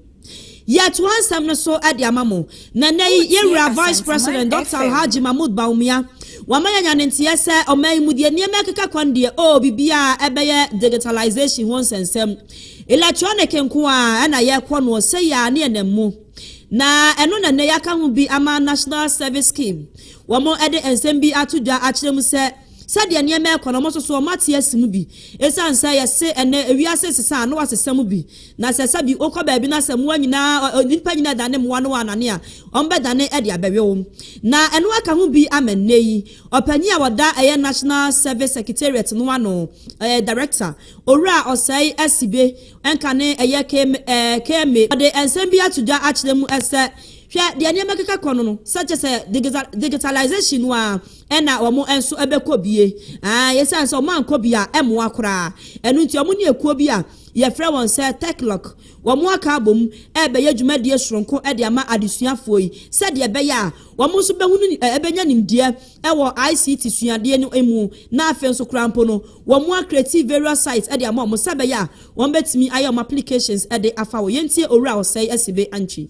Yɛatoa nsɛm no so de ama mo, na nnɛ yi yɛn Wura Vice President Dɔkta Alhaji Mahmood Bawumia wama yɛanya ne nteɛ sɛ ɔman yi mu deɛ nneɛma ɛkeka kwan deɛ oh biribiara ɛbɛyɛ digitalization ho nsɛnsɛm electronic nko ara na yɛrekɔ noɔ sɛyi ara ne ɛnam mu na ɛno na nnɛ yɛaka ho bi ama National Service Scheme wɔn ɛde nsɛm bi ato dwa akyerɛ mu sɛ Sɛdeɛ nneɛma rekɔ no, wɔn nso so wɔn ate asi mu bi. Ɛsiane sɛ yɛse ɛnnɛ wiase resesa a, na wɔasesa mu bi. Na sɛ sɛbi wokɔ baabi na sɛ mmoa nyinaa, ɔ, ɔ, nnipa nyinaa dane mmoa na wɔanane a, wɔbɛdane de abɛwe wo. Na ɛno aka ho bi ama nnɛ yi. Ɔpanyin a ɔda ɛyɛ National Service Secretariat no ano, ɛɛ, Director, Owura Osei Asibe, ɛnka ne ɛyɛ Km, ɛɛ, Kme, wɔde nsɛm bi ato dwa akyerɛ mu sɛ, Hwɛ deɛ nneɛma keka kɔ no no, sɛ kyerɛ sɛ digisa, digitalisation no ara, ɛna wɔn nso bɛkɔ bie. Aa, yɛsiane sɛ wɔn ankɔ bie a, ɛmmoa koraa. Ɛno nti, wɔn ne ekuo bi a yɛfrɛ wɔn sɛ Techlock, wɔn aka abom ɛrebɛyɛ dwumadie soronko de ama adesuafoɔ yi, sɛdeɛ ɛbɛyɛ a wɔn nso bɛhunu, ɛbɛnya nimdeɛ ɛwɔ ICT suadeɛ no mu, na afei nso koraa mpo no, wɔn a create various sites de ama wɔn, sɛ ɛbɛyɛ a wɔn bɛtumi ayɛ wɔn applications de afa hɔ. Yɛntie Owura Osei Asibe Antwi.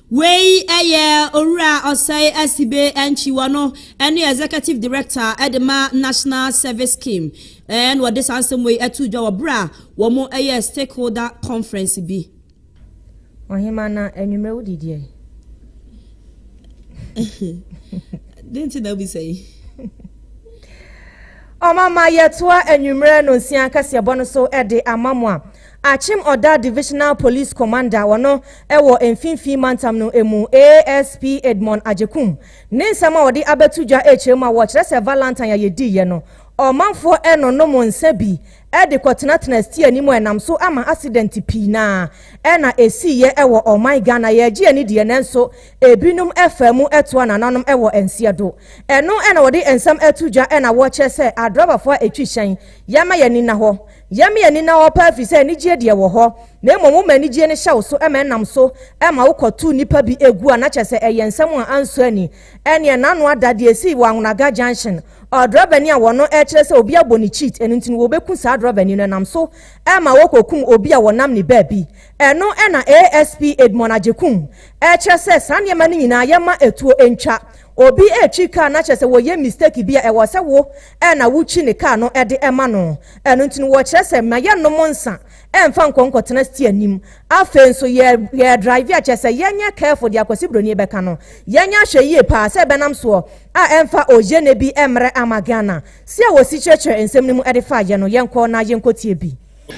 Wei yɛ Owura Osei Asibe Antwi, ɔno ne Executive Director de ma National Service Scheme, na wɔde saa nsɛm wei too dwa wɔ berɛ a wɔyɛɛ stakeholder conference bi. Ɔhema na anwummerɛ wo didiɛ. Dɛn nti na wobisa yi? Ɔmama yɛtoa anwummerɛ nonsia kɛseɛbɔ no so de ama mo a. Akyem Odah Divisional Police Commander wɔno ɛwɔ Mfinfii Mantam no ɛmu ASP Edmond Agyekum ne nsɛm a ɔde abɛto dwa ɛkyerɛ mu a wɔkyerɛ sɛ Valantine a yɛdiiɛ no ɔmanfoɔ ɛnonom nsa bi ɛde kɔtenatena stia anim a ɛnam so ama asidɛnte pii na ɛna ɛsiiɛ ɛwɔ ɔman Ghana yɛgye ani deɛ nanso ɛbinom ɛfaa mu ɛtoa nananom ɛwɔ nseɛ do ɛno ɛna wɔde nsɛm ɛto dwa ɛna wɔkyerɛ sɛ adrabafoɔ a ɛtwi hyɛn yɛma yɛn ani nna hɔ Yɛ me ani na ɔpa ɛfiri sɛ anigyeɛ deɛ wɔ hɔ, na mmom woma anigyeɛ no hyɛ wo so ma ɛnam so ma wokɔto nnipa bi gu a na kyerɛ sɛ ɛyɛ nsɛm a ansɔ ani. Ɛnneɛ n'ano ada deɛ ɛsii wɔ Anwonaga junction. Ɔdrɔbani a wɔno ɛkyerɛ sɛ obi abɔ ne cheat ɛno nti no wɔbɛku saa drɔbani no ɛnam so ma wɔkɔkum obi a wɔnam ne baabi. Ɛno na ASP Edmond Agyekum ɛkyerɛ sɛ saa nneɛma no nyinaa yɛmma ɛtuo ntwa. Obi ɛretwi kaa na kyerɛ sɛ wɔyɛ mistake bi a ɛwɔ sɛ wo na wotwi ne kaa no de ma no. Ɛno nti no, wɔkyerɛ sɛ ma yɛnnom nsa mfa nkɔ nkɔtena steer anim. Afei nso, yɛ yɛredraive a, kyerɛ sɛ yɛnyɛ careful deɛ Akwasi Broni bɛka no. Yɛnyɛ ahwɛ yie paa sɛ ɛbɛnam soɔ a ɛmfa ogyene bi mmrɛ ama Ghana. Se a wɔsi kyerɛkyerɛ nsɛm no mu de fa yɛ no, yɛnkɔ na yɛnkɔtie bi.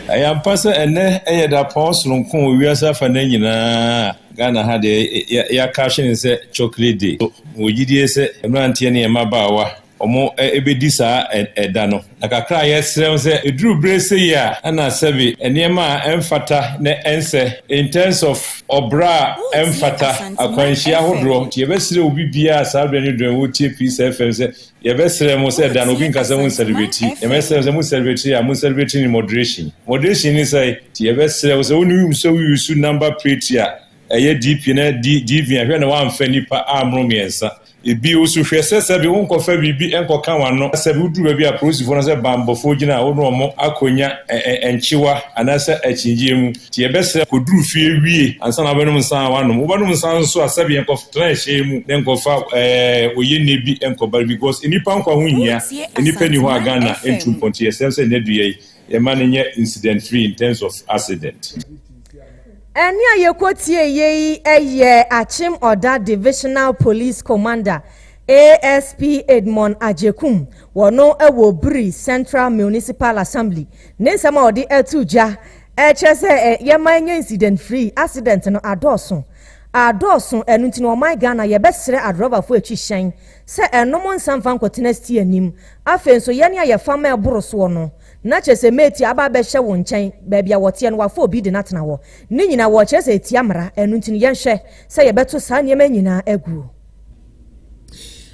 Ɛyɛ ampa sɛ ɛnnɛ yɛ dapɔn soronko wɔ wiase afanan nyinaa a Ghana ha deɛ, yɛaka ahwene no sɛ Chocolate Day. Mewɔ gyidie sɛ mmeranteɛ ne mmabaawa Wɔbɛdi saa ɛda no. Na kakra a yɛsrɛ wo sɛ ɛduru berɛ sei a na sɛbe nneɛma a ɛmfata na ɛnsɛ in terms of ɔbra a ɛmfata, akwanhyia ahodoɔ nti yɛbɛsrɛ obi biara saa berɛ ne dɔn wotie Peace FM sɛ yɛbɛsrɛ mo sɛ ɛda no obi nka sɛ mo nsɛrebɛti na mɛsrɛ mo sɛ mo sɛrebɛti a mo nsɛrebɛti ne moderation. Moderation ne sɛn? Nti yɛbɛsrɛ wo sɛ wo ne wo use wo use number plate a Ɛyɛ DP na DV a, hwɛ na woamfa nnipa ammoro mmiɛnsa. Bio nso, hwɛ sɛ sɛbe wonkɔfa biribi nkɔka w'ano. Sɛbe woduru baabi a apolisifoɔ no sɛ banbɔfoɔ gyina a, wo ne wɔn akɔnya nkyewa anaasɛ akyinnyegyeɛ mu. Nti yɛbɛsrɛ, kɔduru fie wie ansa na wobɛnom nsa a woanom. Wobɛnom nsa nso a, sɛbe nkɔtena ɛhyɛn mu na nkɔfa oyenne bi nkɔba because nnipa nkwa ho hia. Nnipa nni hɔ a Ghana ntu mpɔn nti yɛsrɛ sɛ nnadua yi, Yɛma no nyɛ incident free in terms of accident. Ɛnne a yɛkɔtieeɛ yi yɛ Akyem Oda Divisional Police Commander ASP Edmond Agyekum, wɔno wɔ Biri Central Municipal Assembly, ne nsɛm a ɔde ato gya kyerɛ sɛ yɛma ɛnyɛ incident free, accident no adɔɔso adɔɔso, ɛno nti no ɔman Ghana yɛbɛsrɛ adrɔbafoɔ akyi hyɛn sɛ ɛnnom nsa mfa nkɔtena Stia anim. Afei nso, yɛn a yɛfa ma ɛboro soɔ no, na kyerɛ sɛ Metia aba abɛhyɛ wo nkyɛn, baabi a wɔteɛ no, wafa obi de no atena hɔ. Ne nyinaa, wɔkyerɛ sɛ ɛtia mmara, ɛno nti no, yɛnhwɛ sɛ yɛbɛto saa nneɛma yi nyinaa aguo.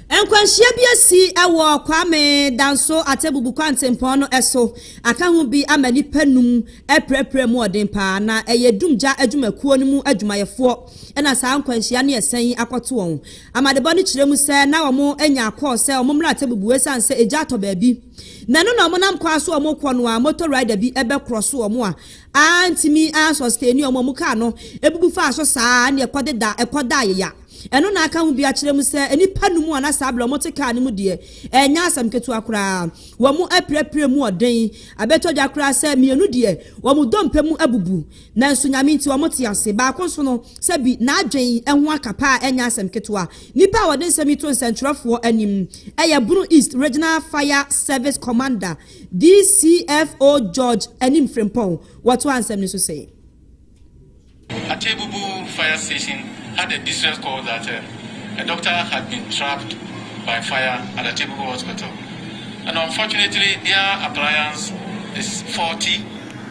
Nkwanhyia bi asi wɔ Kwame Danso Atebubu Kwantempɔn no so aka ho bi ama nnipa num apirapira mu ɔden paa, na ɛyɛ dumgya adwumakuo no mu adwumayɛfoɔ na saa nkwanhyia ne ɛsɛn yi akɔto wɔn. Amanebɔ no kyerɛ mu sɛ na wɔanya kɔɔ sɛ wɔn mmra atemmu bu esiane sɛ egya atɔ baabi. Na ɛno na wɔnam kwan a so wɔkɔ no a motor rider bi bɛkrɔso wɔn a antumi ansustaini wɔn a wɔn kaa no bubu faa so saa ara ne ɛkɔdeda ɛkɔda ayeya. Ɛno na aka ho bi akyerɛ mu sɛ nnipa nnum a na saa bere a wɔte kaa no mu deɛ ɛnyɛ asɛm ketewa koraa. Wɔapirapira mu ɔden abɛtɔ dwa koraa sɛ mmienu deɛ wɔn dompe mu abubu. Nanso Nyame nti wɔn te ase. Baako nso no, sɛ bi, n'adwene ho aka paa a ɛnyɛ asɛm ketewa. Nipa a wɔde nsɛm yi to nsɛnkyerɛfoɔ anim yɛ Bono East Regional Fire Service Commander, DCFO George Anim Frimpong. Wɔtoaa nsɛm no so sɛ. Atebubu Fire Station had a distress call that a doctor had been trapped by fire at Atebubu Hospital and unfortunately their appliance is faulty.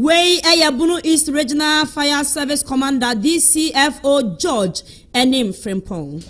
Wei yɛ Bono East Regional Fire Service Commander, DCFO, George Anim Frimpong.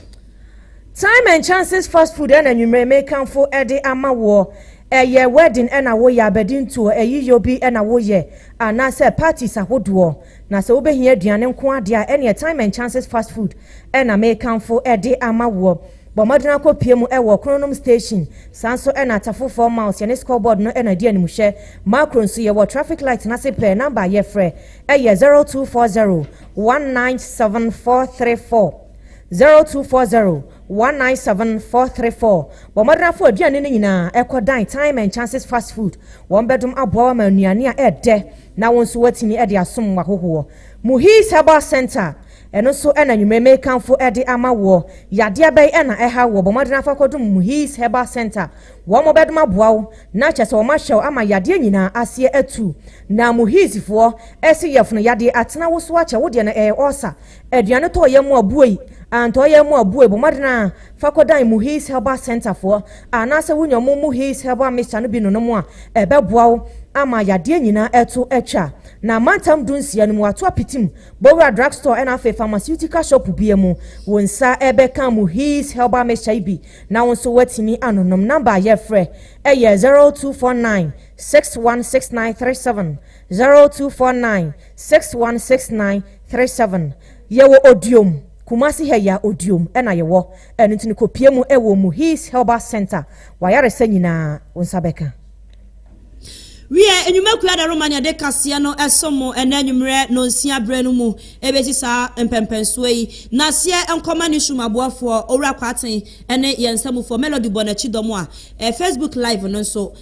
Time and chances fast food ɛna nwumerɛ me kanfo ɛde ama woɔ ɛyɛ wedding ɛna woyɛ abɛdi ntoɔ ayiyɔ bi ɛna woyɛ anaa sɛ parties ahodoɔ na sɛ wobɛhia aduane nkoa deɛ a ɛneɛ time and chances fast food ɛna me kanfo ɛde ama woɔ. Bɔ mmɔden ara kɔpue mu wɔ Kronom Station. Saa nso na Atafo Fam Mouse, yɛne Scoreboard no na ɛdi animhwɛ. Makro nso, yɛwɔ Traffic Light no ase pɛɛ. Number a yɛfrɛ yɛ 0240 197 434, 0240 197 434. Bɔ mmɔden ara fa w'aduane no nyinaa kɔdan Time and Chances Fast Food. Wɔbɛdom aboa wo ama nnuane a ɛdɛ na wo nso woatumi de asom w'ahohoɔ. Muhiz Herbal Centre. Ɛno nso na anwummere merekamfo de ama woɔ. Yadeɛ bɛn na ɛha woɔ? Bɔ mmɔden afa kɔdom Muhiz Herbal Centre. Wɔn bɛdom aboa wo, na kyerɛ sɛ wɔn ahyɛ wo ama yadeɛ nyinaa aseɛ atu. Na Muhiz foɔ se yɛfono yadeɛ atena wo so akyɛ. Wo deɛ no ɛyɛ ɔɔsa, aduane tɔ yɛn mu a bue yi, antɔ yɛn mu a bue yi, bɔ mmɔden ara fa kɔdan Muhiz Herbal Centre foɔ. Anaasɛ wonya wɔn Muhiz Herbal Mixture no bi nonom a, ɛbɛboa wo ama yadeɛ nyinaa ɛto atwa. Na mantam dunsia no mu, wɔato apiti mu Bowura drug store ɛna afei pharmaceutical shop bia mu wo nsa ɛbɛka Muhiz herbal mixture yi bi na wo nso woatumi anonom. Number a yɛfrɛ ɛyɛ zero two four nine six one six nine three seven, zero two four nine six one six nine three seven. Yɛwɔ Odiom, Kumasi ha yi a Odiom ɛna yɛwɔ ɛno nti no kɔpie mu ɛwɔ Muhiz herbal center w'ayaresa nyinaa wo nsa bɛka. Wiɛ, nnwuma kuw a ɛda Romania de kaseɛ no som mo ɛnnɛ anwummerɛ nnɔnsia berɛ no mu bɛsi saa mpɛnpɛnsoɔ yi. Naseɛ nkɔma Newsroom aboafoɔ, Owura Kwarteng ne yɛn nsamufoɔ Melody bɔ n'akyi dɔm a. Facebook live no nso,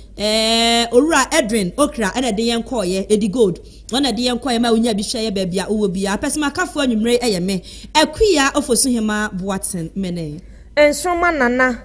Owura Edwin Okra na ɛde yɛn kɔeɛ, Edi Gold na ɛde yɛn kɔeɛ ma wonyaa bi hwɛeɛ baabi a wowɔ biara. Pɛsɛmakafoɔ anwummerɛ yi yɛ me, Akua Ofosuhemaa Boateng Mene. Nsoromma Nana